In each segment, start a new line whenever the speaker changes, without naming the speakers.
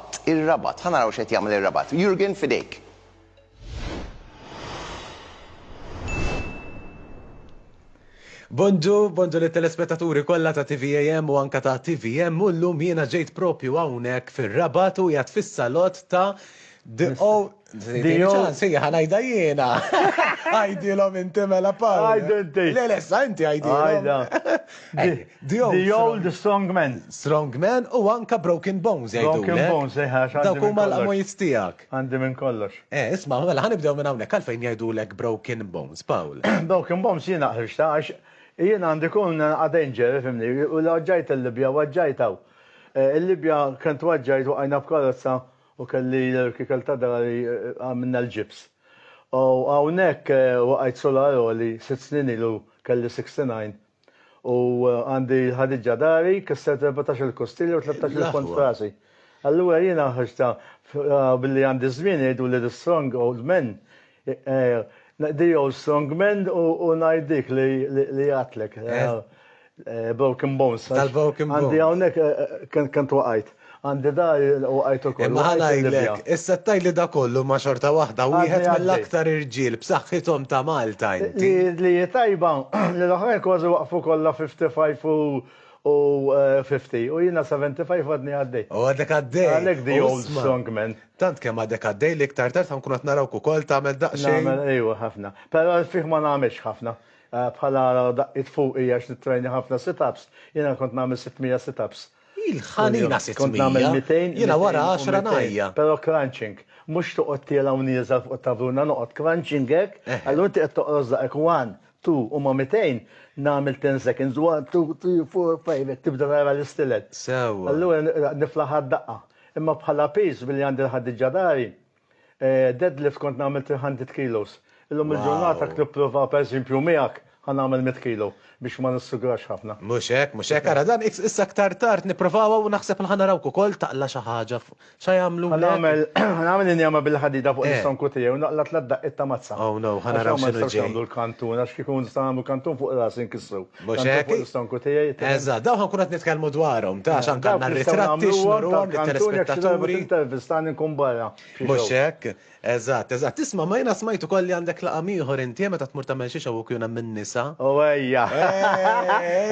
Fatt, ir-Rabat, ħa naraw x'qed jagħmel ir-Rabat. Jurgen f'idejk.
Bonġu, bonġu lit-telespettaturi kollha ta' TVAM u anke ta' TVM u llum jiena ġejt propju hawnhekk fir-Rabat u qiegħed fis-salott ta' The O Dio. Sija ħanajda jiena. Għajdilom inti mela Paul. Għajdu inti. Le, le,
sa inti
għajdilom.
Dio. The old strong man. Strong man u
anka broken bones għajdu. Broken bones, eħa. Eh,
Dawk huma l-qmojt
tijak. Għandi minn kollox.
Eh, isma, mela ħanibdew
minn hawnhekk għalfejn jgħidu lek broken bones, Paul. Broken bones jiena
ħriġta għax jiena għandi kun għadenġer, fimni, u l-ġajt il-Libja, għagġajtaw. Eh, Il-Libja kent għagġajt u għajna b'karozza U kelli l-irkikel ta' dari għamilna l-ġibs. U hawnhekk waqajt solar għoli, sitt snin ilu kelli 69 u għandi l-ħadiġġa dari kissret erbatax-il kostilja u tlettax-il pont f'rasi. Allura jiena ħriġtha billi għandi ż-żmien jgħiduli the strong old men The old strong man u ngħid dik li għatlek. Broken bones. Tal-broken bones. Għandi
hawnhekk
kemm twaqajt. Għandi dar u għajt ukoll. Ma ħanajlek,
issa tajli da kollu ma xorta waħda wieħed mill-aktar irġiel b'saħħithom ta' Malta inti. Li hi tajba
li l-oħrajn kważi waqfu kollha 55 u 50 u jiena 75 għadni għaddej. U għadek għaddej. Għalhekk
the old
strong man. Tant kemm għadek għaddej
li iktar tard ħankun qed narawk ukoll tagħmel daqsxejn. Nagħmel ejwa ħafna.
Però għal fih ma nagħmilx ħafna. Bħala daqqiet fuq hi għax nittrejna ħafna sit-ups. Jiena kont nagħmel sitt mija sit-ups. Il-ħanina
sitt mija.
Jiena wara għaxra
ngħajja. Però crunching.
Mhux toqgħod tiela' u nieżel fuq it-tavruna, noqgħod crunching hekk. Allura inti qed toqros daqek one, two u ma' mitejn nagħmel ten seconds, one, two, three, four, five hekk tibda tara l-istilel. Sewwa. Allura
niflaħha
d-daqqa. Imma bħala piż billi għandi l-ħaddiġa dari, deadlift kont nagħmel 300 kilos. Illum il-ġurnata jekk nipprova pereżempju miegħek ħa nagħmel mitt kilo biex ma nissugrax ħafna. Mhux hekk, mhux hekk. Ara
dan issa aktar tard nipprovawha u naħseb li ħa narawk ukoll taqla' xi ħaġa fuq x'ħa jagħmlulek. Ħa nagħmel, ħa nagħmel
injama bil-ħadida fuq l-istonku tiegħi u naqla' tliet daqqiet ta' mazza. Oh no, ħa naraw x'inhu ġej. Għax hawn ma
nistgħux nagħmlu l-kantun għax kieku
nistgħu nagħmlu kantun fuq rasi nkissru. Mhux hekk? L-istonku
tiegħi.
Eżatt, dawn ħankun qed
nitkellmu dwarhom, ta' xan kan ritratti x'nuruhom lit-telespettaturi. Intervistani nkun
barra. Mhux hekk?
Eżatt, eżatt. Tisma' ma jiena smajt ukoll li għandek laqam ieħor inti meta tmur tagħmel xi xogħol kien hemm in-nisa. O ejja.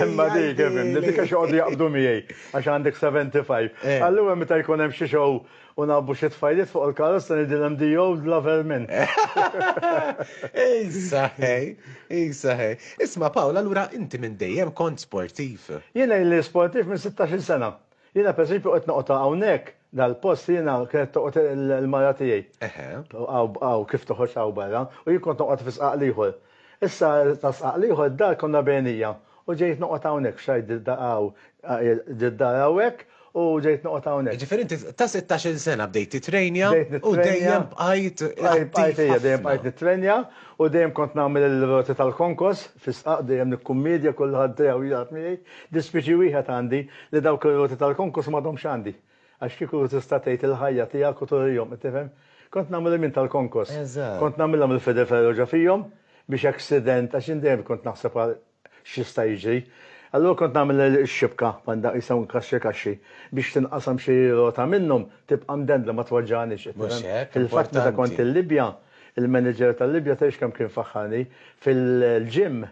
Imma dik, dik għax joqogħdu jaqbdu miegħi għax għandek 75. Allura meta jkun hemm xi xogħol U ngħabbu xi tfajliet fuq il-karozza ngħidilhom the old lover minn. Issa
ħi, issa ħi. Isma' Pawl, allura inti minn dejjem kont sportiv? Jiena ili sportiv
minn sittax-il sena. Jiena per eżempju qed noqgħod hawnhekk dal-post li jiena kienet toqgħod il-mara tiegħi. Eħe. Hawn kif toħroġ hawn barra u jien kont noqgħod fi sqaq l-ieħor. Issa ta' sqaq l-ieħor id-dar konna bejnija u ġejt noqgħod hawnhekk, f'xahar ġiet dar hawnhekk u ġejt noqgħod hawnhekk. Jiġifieri inti ta' sittax-il
sena bdejt titrenja u dejjem bqajt attiv ħafna. Dejjem
bqajt nitrenja u dejjem kont nagħmel il-roti tal-konkos fi sqaq, dejjem nikkummedja, kulħadd dejjem jilgħab miegħi. Dispjaċi wieħed għandi li dawk ir-roti tal-konkos m'għadhomx għandi. Għax kieku tista' tgħid il-ħajja tiegħek u turihom, qed tifhem? Kont nagħmel il-min tal-konkos. Eżatt. Kont nagħmilha mill-fede ferro ġo fihom biex accident, għax jien dejjem kont naħseb għal x'jista' jiġri. Allura kont nagħmel ix-xibka, bħal dak jisem kaxxi kaxxi, biex tinqasam xi rota minnhom, tibqa' mdendla ma tweġġagħnix, qed tifhem? Mhux hekk, importanti. Fil-fatt meta kont il-Libja, il-manager tal-Libja tgħidx kemm kien faħħarni, fil-gym,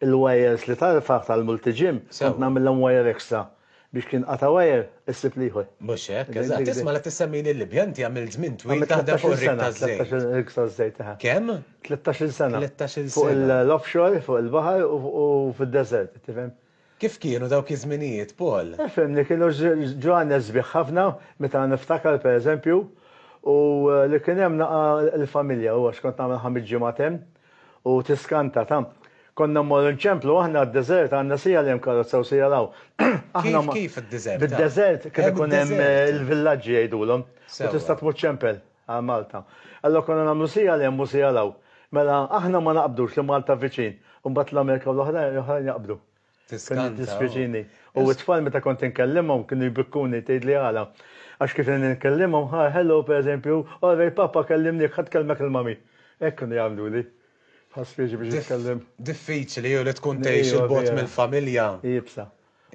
il-wires li tarfa' tal-multi-gym, kont nagħmilhom wire extra. Biex kien qata' wire, issib l-ieħor. Mhux hekk, eżatt.
Isma' la tissemmini l-Libja, inti għamilt żmien twil taħdem fuq ir-rig taż-żejt. Għamilt 13 sena, 13 sena fuq ir-rig taż-żejt, eħe.
Kemm? 13-il sena.
13-il sena.
Fuq
l-offshore,
fuq il-baħar u fid-deżert, qed tifhem? Kif kienu dawk
iż-żminijiet, Paul? Ifhimni, kienu
ġranet sbieħ ħafna, meta niftakar, pereżempju, u li kien hemm naqa' l-familja, u għax kont nagħmel ħames ġimgħat hemm, U tiskanta, ta. Konna mmorru nċemplu aħna d-deżert għandna sija li hemm karozza u sija 'l hawn. Aħna ma. Kif, kif
id-deżert? Bid-deżert kien ikun
hemm il-villaġġi jgħidulhom. Sewwa. U tista' tmur ċempel għal Malta. Allura konna nagħmlu sija 'l hemm u sija 'l hawn. Mela aħna ma naqbdux li Malta viċin u mbagħad l-Amerika u l-oħrajn jaqbdu. Tiskanta. Dispjaċini. U t-tfal meta kont inkellimhom kienu jbikkuni tgħidli għala. Għax kif inkellimhom, ha hello pereżempju, all right papa kellimniek ħa tkellmek il-mami. Hekk kienu jagħmluli. Bħal spiex biex jitkellem. Diffiċli u li
tkun tgħix 'il bogħod mill-familja.
Iebsa.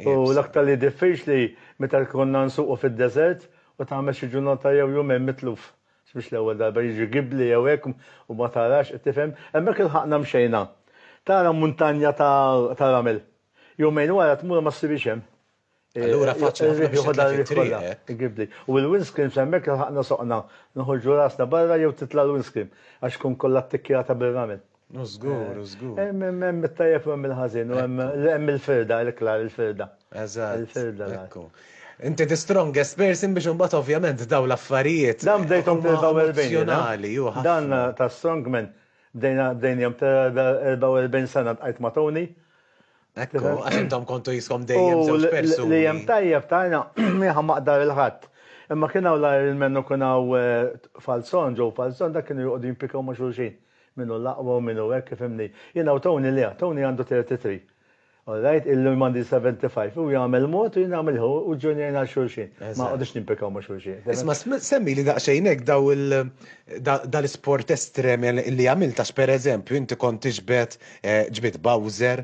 U l-aktar li diffiċli meta konna nsuqu fid-deżert u tagħmel xi ġurnata jew jumejn mitluf. Mhux l-ewwel darba jiġri gibbli jew hekk u ma tarax, qed tifhem? Hemmhekk ilħaqna mxejna. Tara muntanja ta' ramel. Jumejn wara tmur u ma ssibhiex hemm. Allura faċli
ħafna biex titlef it-triq, hekk? Il-gibbli. U
l-windscreen f'hemmhekk ilħaqna soqna. Noħorġu rasna barra jew titla' l-windscreen għax tkun kollha ttikkjata bir-ramel. U żgur, u
żgur. Hemm it-tajjeb u
hemm il-ħażin, u hemm il-firda, il-klar, il-firda. Eżatt. Il-firda.
Ekku.
Inti
the strongest person biex imbagħad ovvjament dawn l-affarijiet. Dan bdejthom fl-44 jiena.
Emozzjonali,
hu ħafna. Dan
ta' strongman bdejna bdejnihom tal-44 sena ltqajt ma' Tony. Ekku,
għax intom kontu jiskom dejjem żewġ persuni. U li hemm tajjeb ta'
jiena jiena ma aqda lil ħadd. Imma kien hawn l-Ironman u kien hawn Falzon, Joe Falzon, dak kienu joqogħdu jimpikaw ma' xulxin. Min hu l-aqwa u min hu hekk, ifhimni. Jiena u Tony le, Tony għandu 33. All right, illi m'għandi 75. Hu jagħmel mod u jien nagħmel ieħor u ġġunjajna għal xulxin. Ma noqogħdux nimpikaw ma' xulxin. Isma' semmili
daqsxejn hekk daw il, dal-isport estrem li għamilt għax pereżempju inti kont tiġbed, ġbidt Bowser,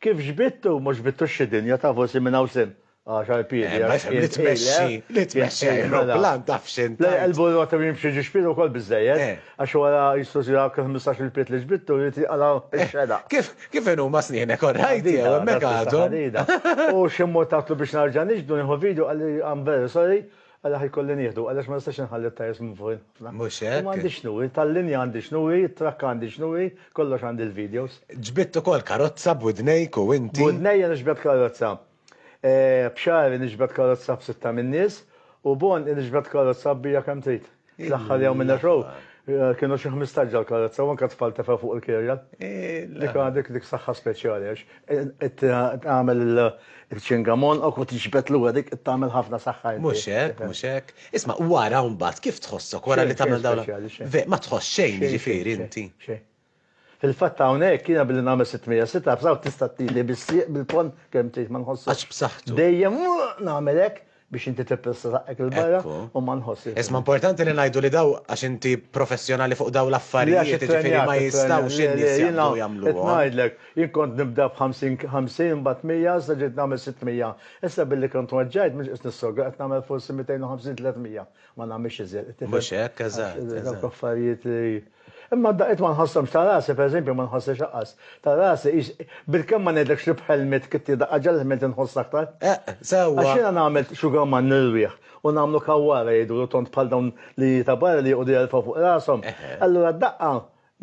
Kif xbittu, mhux xbittu xi dinja, tafu sin minn hawn sin. Għaxar piedi Eh, ma għax jifhem kien
li tmexxi, tqil, eh. li Kien tmexxi tqil, mela. ajruplan taf x'int Le, tgħid. qalbu r-rotta u jimxi
ġiex pied ukoll biżżejjed, Eh. għax wara jissu si dawk il-ħmistax-il pied li xbittu jrid jinqala' Eh, x-xenaq. kif, kif inhuma
snienek, orrajt jew, Ħadida, hemmhekk dak issa għadhom. ħadida. U
xi mmur tatlu biex narġa' nixhdu, nieħu vidju, qalli, I'm very sorry, Għaliex ħa jkolli nieħdu? Għaliex ma nistax inħalli t-tajers minn fuq il-ħafna? Mhux hekk? U m'għandi
x'nu hi, tal-linja
għandi x'nu hi, it-trakka għandi x'nu hi, kollox għandi l-videos. Ġbidt ukoll
karozza b'widnejk u inti? B'widnejja niġbed karozza.
B'xagħri niġbed karozza b'sitta min-nies u b'għonqi niġbed karozza kbira kemm trid. Fl-aħħar jew minn xogħol eh, kienu xi 15 ġal karezza u anke tfal tefa' fuq il-kirja. Eh, dik għandek dik saħħa speċjali għax eh, tagħmel il-ċingamon u kont tiġbed lura dik tagħmel ħafna saħħa. Mhux hekk, mhux hekk.
Isma' wara mbagħad kif tħossok wara li tagħmel dawn. Ma tħoss xejn jiġifieri inti. Fil-fatt
hawnhekk jiena billi nagħmel sit mija sit ups hawn tista' tili bis-sieq bil-ponn kemm trid ma nħossux. Għax b'saħħtu. Dejjem nagħmel hekk biex inti tippressa saqqek 'il barra u ma nħossix. Isma' importanti li ngħidu
li dawn għax inti professjonali fuq dawn l-affarijiet jiġifieri ma jistgħux in-nies jaqbdu jagħmluhom. Qed ngħidlek, jien
kont nibda b'ħamsin ħamsin imbagħad mija issa ġejt nagħmel sitt mija. Issa billi kont weġġajt mhux qiegħed nissogra qed nagħmel forsi mitejn u ħamsin tliet mija. Ma nagħmilx iżjed. Mhux hekk, eżatt.
Dawk affarijiet li.
Imma d-daqqiet ma nħosshomx ta' rasi, pereżempju, ma nħoss ix-xaqqas ta' rasi, ix, bilkemm ma ngħidlekx li b'ħelmiet kitti daqqa ġagħlitni tinħoss aktar. Eqq, sewwa! Għax jiena
nagħmel
xugamann ir-riħ u nagħmlu kawwara jidhru tond bħal dawn linji ta' barra li joqogħdu jerfgħu fuq rashom, allura d-daqqa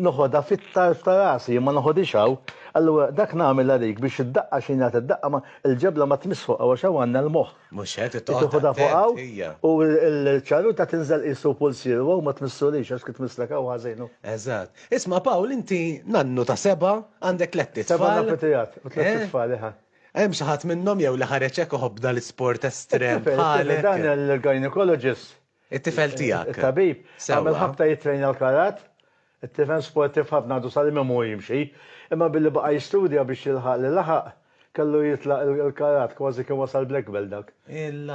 noħodha fit-tarf ta' rasi, jien ma noħodhiex hawn, allura dak nagħmel għalik biex id-daqqa xi ngħid id-daqqa ma, il-ġebla ma tmiss fuqha għax hawn għandna l-moħħ. Mhux hekk, trid toqgħod attent.
Tieħu fuq hawn
u l-ċaruta tinżel qisu pulsier, wow ma tmissulix għax kif tmisslek hawn ħażin. Eżatt. Isma'
Pawl inti nannu ta' seba' għandek tlett itfal. Seba' nannu tiegħek u tlett
itfal, eħe. Hemm xi ħadd minnhom
jew li ħareġ hekk iħobb dal-isport estrem bħalek? Dan il-gynecologist
It-tifel
tiegħek. It-tabib għamel
ħabta jittrejna l-karat. It-tifel sportiv ħafna għadu sal-lum imur jimxi. Imma billi baqa' jistudja biex jilħaq li laħaq, kellu jitlaq il-karat, kważi kien wasal black belt dak.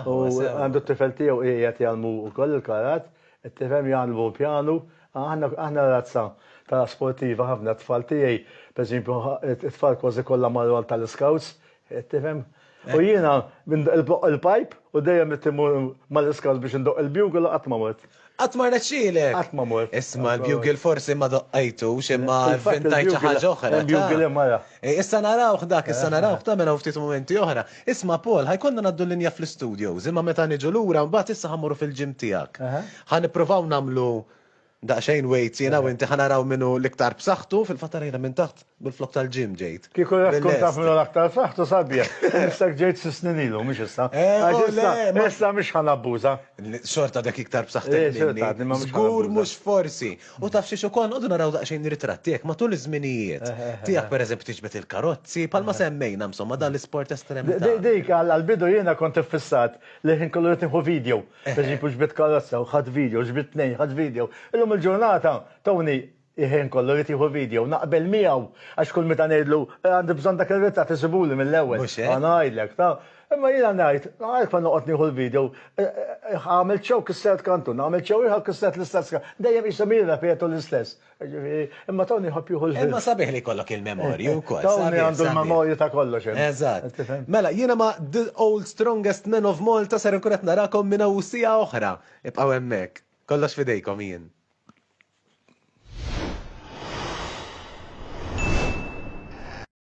U għandu t-tifel tiegħu qiegħed jgħallmu wkoll il-karat. It-tifhem jgħallmu l-pjanu. Aħna razza ta' sportiva ħafna. T-tfal tiegħi, pereżempju, it-tfal kważi kollha marru għal tal-iskawts. Qed tifhem? U jiena il-pajp u dejjem qed immur mal-iskart biex indoqq il-bugle u qatt ma mort. Qatt ma rnexxielek?
Qatt ma mort. Isma'
l-bugle forsi
ma doqqajtux imma vvintajt xi ħaġa oħra. Hemm bugle hemm ara.
Issa narawh
dak, issa narawh tagħmel hawn ftit mumenti oħra. Isma' Paul, ħa jkollna ngħaddu l-linja fl-istudios imma meta niġu lura mbagħad issa ħa mmorru fil-gym tiegħek. Ħa nippruvaw nagħmlu Daqsxejn wejt jiena u inti ħa naraw min hu l-iktar b'saħħtu, fil-fatt ara jiena minn taħt minflok tal-gym ġejt. Kieku rrid tkun taf min hu
l-aktar b'saħħtu sabiħ, ħnissek ġejt xi snin ilu, mhux issa. Għax issa, issa mhux ħa nabbuża. Xorta għadek
iktar b'saħħtek minni. Xorta għadni ma mhux ħa nabbuża. Żgur mhux forsi. U taf xiex ukoll, nqogħdu naraw daqsxejn ritratti hekk matul iż-żminijiet. Tiegħek pereżempju tiġbed il-karozzi, bħalma semmejna insomma dan l-isport estrem. Dik, għall-bidu
jiena kont iffissat li l-ħin kollu rrid nieħu video. Pereżempju ġbidt karozza u ħadt video, ġbidt tnejn, ħadt video. Illum il-ġurnata Tony il-ħin kollu jrid jieħu video, naqbel miegħu għax kull meta ngħidlu għandi bżonn dak ir-ritratt isibuli mill-ewwel. Mhux hekk? Ngħidlek, taf. Imma jiena ngħid, għalhekk ma noqgħod nieħu l-video, għamilt show kissert kantun, għamilt show ieħor kissert l-istess kantun, dejjem qishom jirrepetu l-istess. Ġifieri, imma Tony jħobb jieħu l-ħin. Imma sabiħ li jkollok il-memorji
wkoll. Tony għandu l-memorji
ta' kollox. Eżatt. Mela,
jiena ma' The Old Strongest Men of Malta ser inkun qed narakom minn hawn siegħa oħra. Ibqgħu hemmhekk. Kollox f'idejkom jien.